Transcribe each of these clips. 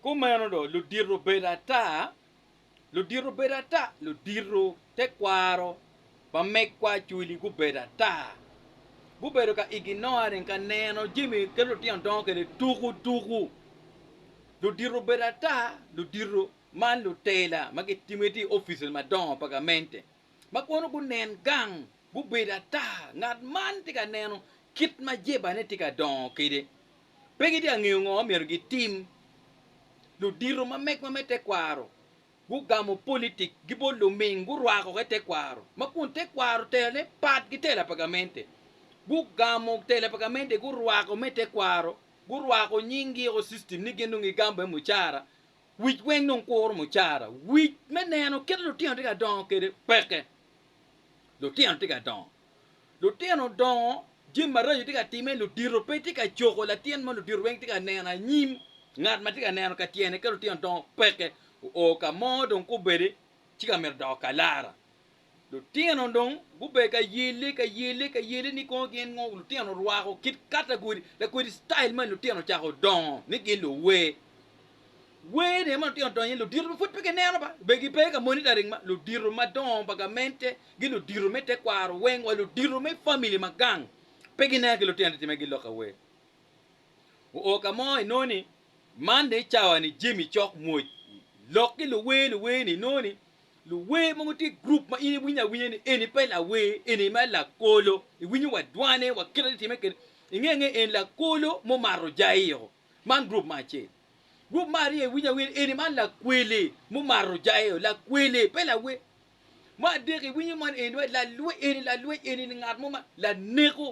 Kumeno dong, ludito bedo ata, ludito bedo ata, ludito, tekwaro, bamegwa, cwili gubedo ata. Gubedo ka ignoring, ka neno jami kit lutino dongo kwede tuku tuku. Ludito obedo ata, ludito man lutela ma gitimo gitye i offices madongo pa gamente ma kono gunen gang gubedo ata ngat man tye ka neno kit ma jebane tye ka dongo kwede. Pe gitye ka ngeyo ngo ma myero gitim. Ludito ma megwa me tekwaro gugamo politik gi bot luming, gurwako ki tekwaro, ma kun tekwaro telane pat ki tela pa gamente. Gugamo tela pa gamente gurwako me tekwaro, gurwako nying gi o system ni gin dong gigamo bene mucara. Wic weng dong kuro mucara. Wic me neno kit lutino tye ka dongo kede peke. Lutino tye ka dongo. Lutino dongo, jami maraco tye ka timme, ludito pe tye ka coko latin ma ludito weng tye ka neno anyim, ngat ma tye ka neno ka tyene ka lutino dongo peke, oo ka mo dong kobedi ci ka myero doko kalara. Lutino dong gubedo ka yelle ka yelle ka yelle ni kono gin ngo lutino rwako kit katagori lakodi style mani lutino ocako dongo ni gin luwer. Gweyo ni ma lutino donyo ni ludito ma pud pe gineno ba, be gipe ka monitoring ma ludito madongo pa gamente gi ludito me tekwaro weng wa ludito me family ma gang pe gineno ki lutino titime gi lok awer. Oo ka mo inongo ni man ni cawa ni jemi cok moj lok ki luwer luwer ni inongo ni luwer mogo tye group ma in iwinyo awinya ni eni pe lawer eni me lakolo iwinyo wa dwane wa kite titime kede inge nge en lakolo mumato jaio Man gurup ma acel. Gurup ma aryo iwinyo awiny eni man lakweli mumato jayo, lakweli pe lawer. Ma adek iwinyo man eni wai lalwec eni, lalwec eni ni ngat mo ma laneko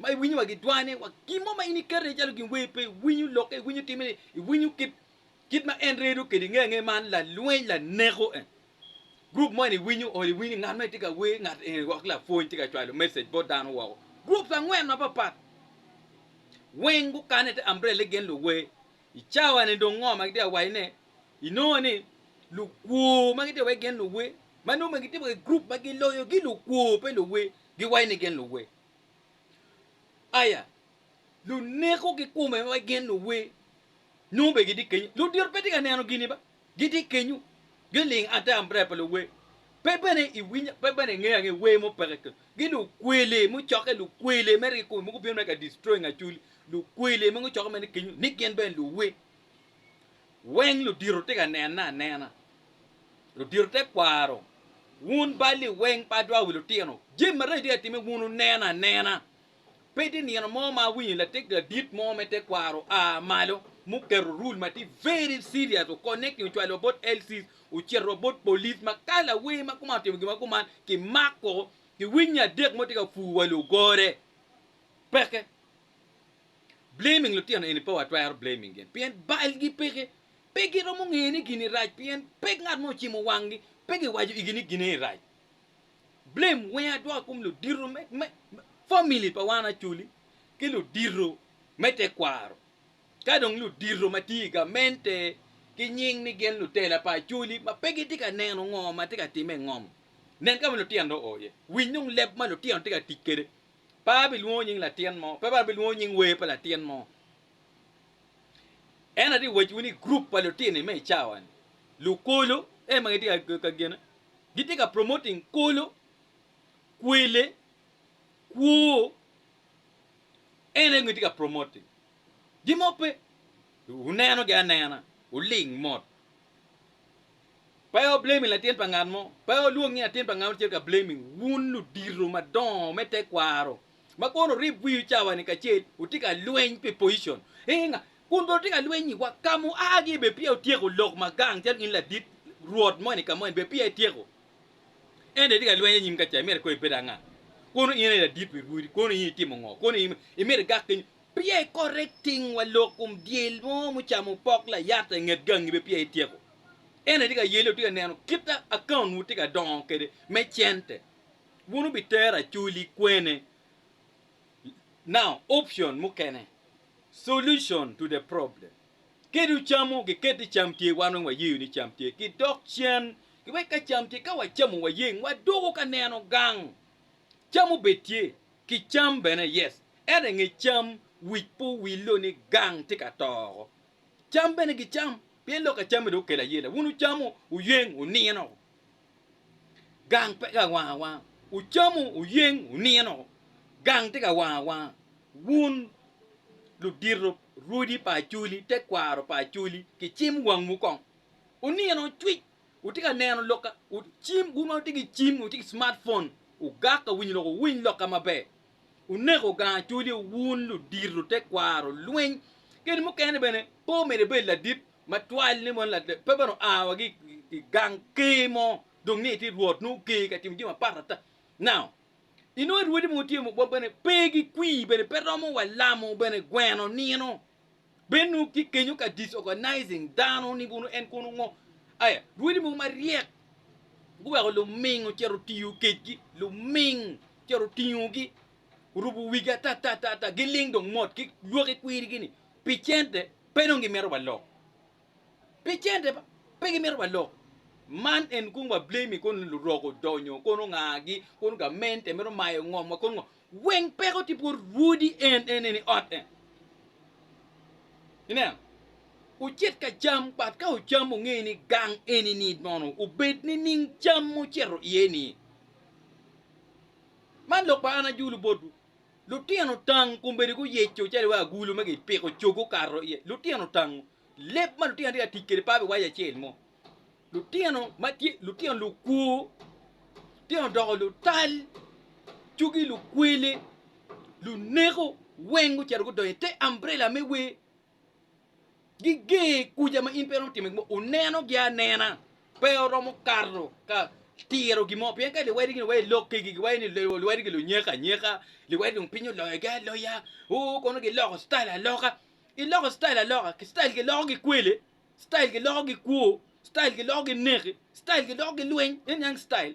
ma iwinyo wa gidwane wa gin mo ma in iketo iye calo gin wer pe iwinyo lokke, iwinyo timme ni, iwinyo kit kit ma en redo kwede inge ange man lalweny laneko en. Group moni iwinyo oli iwinyo ngat moni tye ka wer ngat eni wok ki lapwony tye ka cwalo message bot dano woko. Groups angwen mapat pat weng gukane te umbrella gin luwer. I cawa ni dong ngo ma gitye ka waco ne inongo ni lukwo ma gitye wai gin luwer ma nongo ma gitye wai group ma giloyo gi lukwo pe luwer giwai ni gin luwer. Aya luneko ki kome wai gin luwer nongo be gitye kenyo. Ludito pe tye ka neno gini ba. Gitye kenyu, giling ata ambirela pa luwer. Pe bene iwinyo, pe bene ingeyo angeya wer mupeke kenyu. Gi lukwele mucokke, lukwele me riko mogo bino ka destroying acholi. Lukwele mogo cokke mene kenyu ni gin bene luwer. Weng ludito tye ka nenne anena. Ludito te kwaro. Wun balli weng ba dwa wi lutino. Jami maraco tye ka timme wun wuneno anena. Pe tye nino mo ma awinyo lateggi adit mo me tekwaro oa malo muketo rule ma tye very serious o connecting ocwalo wa bot LCs ocito wa bot police ma ka lawer ma kuman otimo gin ma kuman kimako kiwinyo adek mo tye ka pur wa lugore peke blaming lutino eni pe watwero blaming gin pien balgi peke pe giromo ngeye ni gini rac pien pe ngat mo ocimo wanggi pe giwaco igi ni gin eni rac Blame weng adwoka kom ludito me family pa wan Acholi ki ludito me tekwaro ka dong ludito ma tye i gamente ki nying ni gin lutela pa Acholi ma pe gitye ka neno ngo ma tye ka timme i ngom. Nen ka ma lutino oo iye, winy dong leb ma lutino tye ka tic kwede. Pe abilwongo nying latin mo, pe abilwongo nying wer pa latin mo. Ento atye ka waciwu ni gurup pa lutino-ni me i cawa-ni, lukolo, ee ma gitye ka gene. Gitye ka promoting kolo, kwele, kwo. En aye gitye ka promoting. Gin mo pe. Wunenogi anena. Wuling mot. Pe wo blaming latin pa ngat mo. Pe wolwong nying latin pa ngat mo cito ka blaming. Wun ludito madongo me tekwaro ma kono wurib wiwu cawa-ni kacel wutye ka lweny pi position. Ee nga. Kun bene otye ka lweny iwa, ka muagi bene peya wutyeko lok ma gang calo in ladit rwot moni ka moni bene peya ityeko. Ento itye ka lweny anyim ka ca, imito ikobo ibedo anga? Kono in aye ladit pi rwodi, kono in itimo ngo? Kono in imito igak kenyo? Peya i correct ting wa lok kom dyel mo mucamo pok layata i nget gangi bene peya ityeko. Ento itye ka yelo itye ka neno kit account wu tye ka dongo kwede me cente. Wun wubitero acoli kwene? Now option mukene solution to the problem ki dong camo giket ni cam tye wan weng wayeyo ni cam tye ki dok cen ki wek ka cam tye ka wacamo wayeng wadoko ka neno gang cam obed tye ki cam bene yes ento inge cam wic pe owillo ni gang tye ka to oko cam bene gicam pien lok ka camme dong okelo ayela wun wucamo wuyeng wunino gang pe ka wang awanga, wucamo wuyeng wunino, gang tye ka wang awanga. Wun ludito, rwodi pa Acholi, tekwaro pa Acholi, kicim wangwu kong. Wunino cwic, wutye ka neno lok ka, wu, cim, wun ma wutye ki cim, wutye ki smart phone, wugak ka winyo lok, wuwiny lok ka maber. Wuneko gang Acholi wun ludito, tekwaro, lweny, kadi mukene bene pe omyero ibed ladit, Matwal ni moni lader pe bene oa wa ki i gang ker mo dong ni tye rwot nongo ker ka timo jami apat ata. Now inongo arwodi mogo tye wa bene pe gi kwir bene pe romo wa lamo bene gweno nino bene nongo tye kenyo ka disorganizing dano ni bunu en kono ngo aya rwodi mogo maryek guweko luming ocito otiyo kedgi luming ocito otingogi orubo wigi ata ata ata ata giling dong mot ki lwaki kwirigi ni pi cente Pe dong gimito walok pi cente, pe gimito walok. Man en kong wa blame kong lurok odonyo kong ongagi kong gamente mito mayo ngom wa kong ngo. Weng peko ti bot rwodi en en en i ot en. Ineno? Ucit ka cam but ka ucam unge ni gang eni ni nono obed ni ning cam mucito iye ni. Man lok pa an ajulu botwu. Lutino tango kombeddi guyeco calo iwaci agulu ma gipiko cog gukato iye. Lutino tango leb ma lutino tye ka tic kwede pa iwaci acel mo. Lutino ma tye lutino lukwo, lutino doko lutal, cogi lukwele, luneko weng gucito gudonyo i te ambrela me wer Giger kuca ma in pe iromo timo gin mo, wunenogi anena, pe wuromo kato ka tiro gin mo, pien ka liwodigi ni wa i lok kegi, giwaco ni liwodigi lunyeko anyeka, liwodigi dong piny oloyogi aloya, oo kono giloko citayel aloka. Iloko citayel aloka, citayel giloko ki kwele, citayel giloko ki kwo, citayel giloko ki neki, citayel giloko ki lweny, en yang citayel.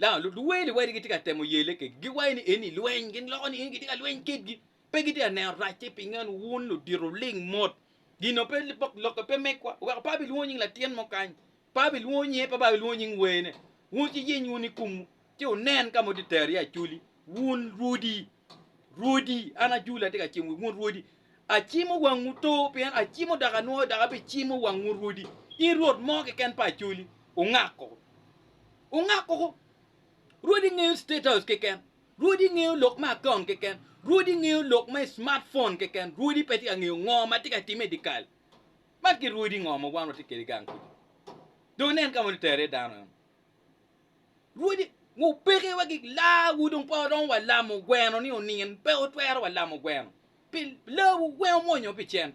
Dok luduwel wadi gitye ka temo yele kegi, giwaco ni eni lweny, gin loko ni eni gitye ka lweny kitgi. Pe gitye ka neno racce pi nge ni wun ludito ling mot. Gino pe pok lokke pe megwa. Weko pe abilwongo nying latin mo kany, pe abilwongo nyinge, pe abilwongo nying wene. Wun ci yiny wun i kumwu, ci wunen ka ma wutye ka tero iye acoli, wun rwodi! Rwodi, an ajule atye ka cimo wun rwodi, acimo wangwu to, pien acimo dok anwoyo dok abicimo wang wun rwodi. In rwot mo keken pa acoli, ungak koko. Ungak koko. Rwodi ngeyo State House keken. Rwodi ngeyo lok me akaun keken. Rwodi ngeyo lok me smartphone keken. Rwodi pe tye ka ngeyo ngo ma tye ka timme i dikal. Man ki rwodi ngo ma wan watye kede gang kudi. Dong nen ka ma nitero iye dano eno. Rwodi ngu peke wa gik laa wu dong pe waromo wa lamo gweno ni onin pe otwero wa lamo gweno pi laa wu weng omwonyo pi cent.